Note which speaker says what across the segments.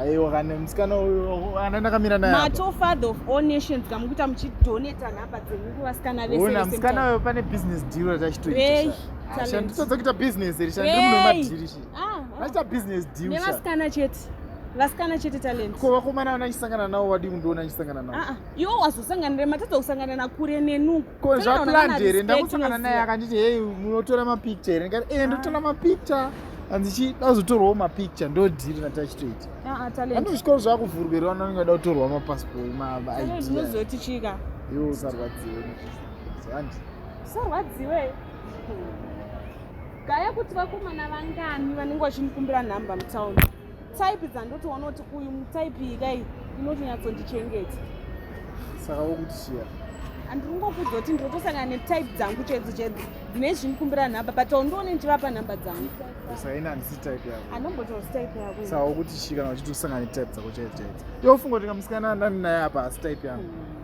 Speaker 1: aiwa kana
Speaker 2: musikana uyo ana ndakamira naye mato father of all
Speaker 1: nations kamukuita muchidoneta nhamba dzenyu kuvasikana veseona musikana uyo pane
Speaker 2: business deal ratachitoitanditodza kuita business iri shandiri muno madhirishi vachiita ah, ah. business deal nevasikana chete
Speaker 1: vasikana chete talent ko vakomana vana chisangana
Speaker 2: navo vadii kundiona chisangana navo ah, iwo wazosanganira
Speaker 1: matadza kusangana nakure nenuku ko zvaplanned
Speaker 2: here ndakusangana naye akanditi hei munotora mapicture here ndikati e ndotora ah. mapicture handichi dazotorwawo mapicture ndodhiri nati achitoita ane zvikoro
Speaker 1: zvakuvhurwerwa
Speaker 2: anonge ada kutorwa mapassport maidinozoti
Speaker 1: chika iwe usarwadziwe
Speaker 2: zandi usarwadziwe
Speaker 1: gaya kuti vakomana vangani vanenge vachindikumbira nhamba mutaundi type dzandotoona kuti uyu mutype iyi kai inotonyatsondichengeta
Speaker 2: saka wokutisiya andiri kungokuudza
Speaker 1: kuti ndotosangana netype dzangu chedzo chedzo dzine zvindikumbira nhamba but aundione ndichivapa nhamba dzangu saina handisi
Speaker 2: type yako anombotozi type yako
Speaker 1: saka wokuti shika kana uchiti
Speaker 2: usangana netype dzako chedzo chedzo iwe ufunga kuti kamusikana andani naye apa hasi type yangu mm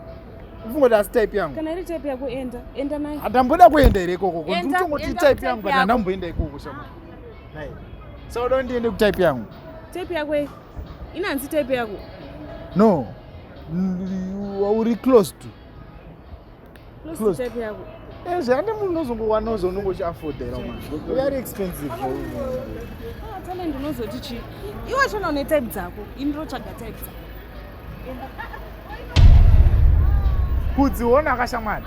Speaker 2: ufunga kuti asi type yangu kana iri type yako enda
Speaker 1: enda naye handamboda kuenda here ikoko
Speaker 2: kunditongoti type yangu but handamboenda ikoko shama Sauda ndiende kutype yangu. Type yako eh?
Speaker 1: inanzi type yako? No.
Speaker 2: Uri close to. Close, close. to
Speaker 1: type yako. Eh, zvande munhu
Speaker 2: unozongowana uzonongo uchiafodera mwana. We are expensive.
Speaker 1: Ah, tana ndinozoti chii? Iwe chona une type dzako. Ini ndotsvaga type dzako. Kudziona
Speaker 2: akashamwana.